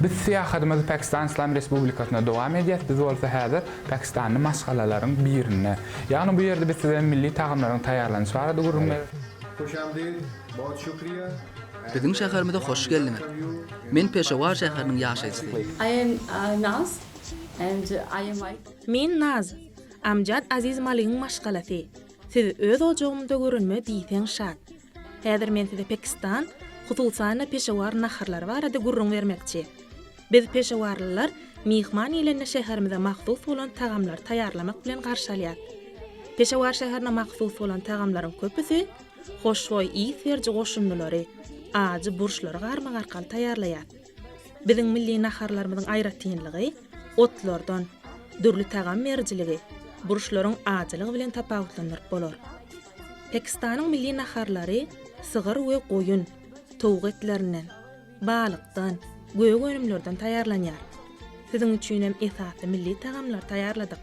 Biz syýahatymyzy Pakistan Yslam Respublikasyna dowam edýäs, biz bolsa häzir pakistanly maşgalalaryň birinde. Ýagny bu ýerde biz size milli tagamlaryň taýýarlanyşy barada gürrüň. Hushamdeed, bahut shukriya. Biziň şäherimize hoş geldiňiz. Men Peşawar şäheriniň ýaşaýjysy. I am Naz and I am wife. Men Naz, Amjad Aziz Maligiň maşgalasy. Siz öz ojagymda görünme diýseň şat. Häzir men size Pakistan, hususan-da Peşawar naharlary barada gürrüň bermekçi. Biz peşawarlylar myhman gelende şäherimize mahsus bolan tagamlary taýýarlamak bilen garşy alýas. Peşawar şäherine mahsus bolan tagamlaryň köpüsi hoşboý ys beriji goşundylary, ajy burçlary garmak arkaly taýýarlaýas. Biziň milli naharlarymyzyň aýratynlygy otlardan dürli tagam berijiligi burçlaryň ajylygy bilen tapawutlandyryp bolar. Pakistanyň milli naharlary sygyr we goýun, towuk etlerinden, balykdan, gök önümlerden taýýarlanýar. Siziň üçinem esasy milli tagamlary taýýarladyk.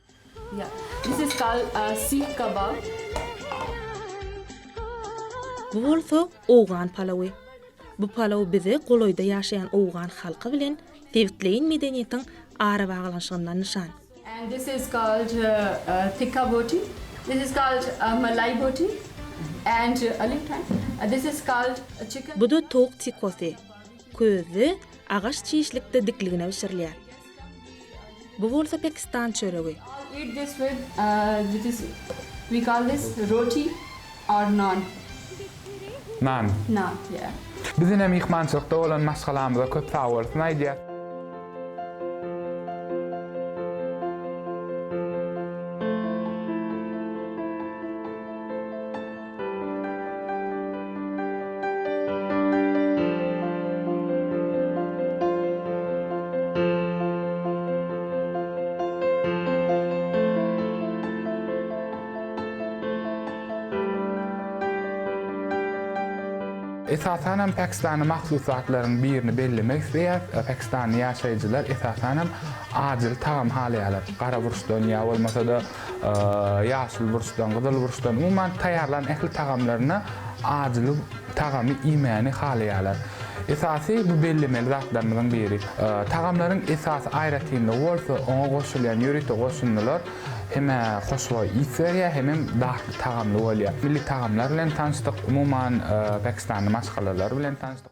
Bu bolsa owgan palawy. Bu palaw bize golaýda ýaşaýan owgan halky bilen sebitleýin medeniýetiň arabaglanyşygyndan nyşan. Bu-da towuk tikosy. Közde, agaç çişlikde dikligine bişirilýär. Bu bolsa pakistan çöregi. Nan. Bizine myhmançylykda bolan maşgalamyza köp sagbolsun aýdýas. Esasan hem Pakistana mahsus zatlaryň birini bellemek isleýäs. Pakistanly ýaşaýjylar esasan hem ajyly tagam halaýarlar. Gara burçdan ýa bolmasa-da ýaşyl burçdan, gyzyl burçdan, umuman taýýarlan ähli tagamlaryna ajyly tagamy iýmäni halaýarlar. Esasy bu bellemeli zatlarymyzyň biri. Tagamlaryň esasy aýratynlygy bolsa oňa goşulýan ýörite goşundylar hem-ä hoşboý ys berýär, hemem datly tagamly bolýar. Milli tagamlar bilen tanyşdyk, umuman pakistanly maşgalalary bilen tanyşdyk.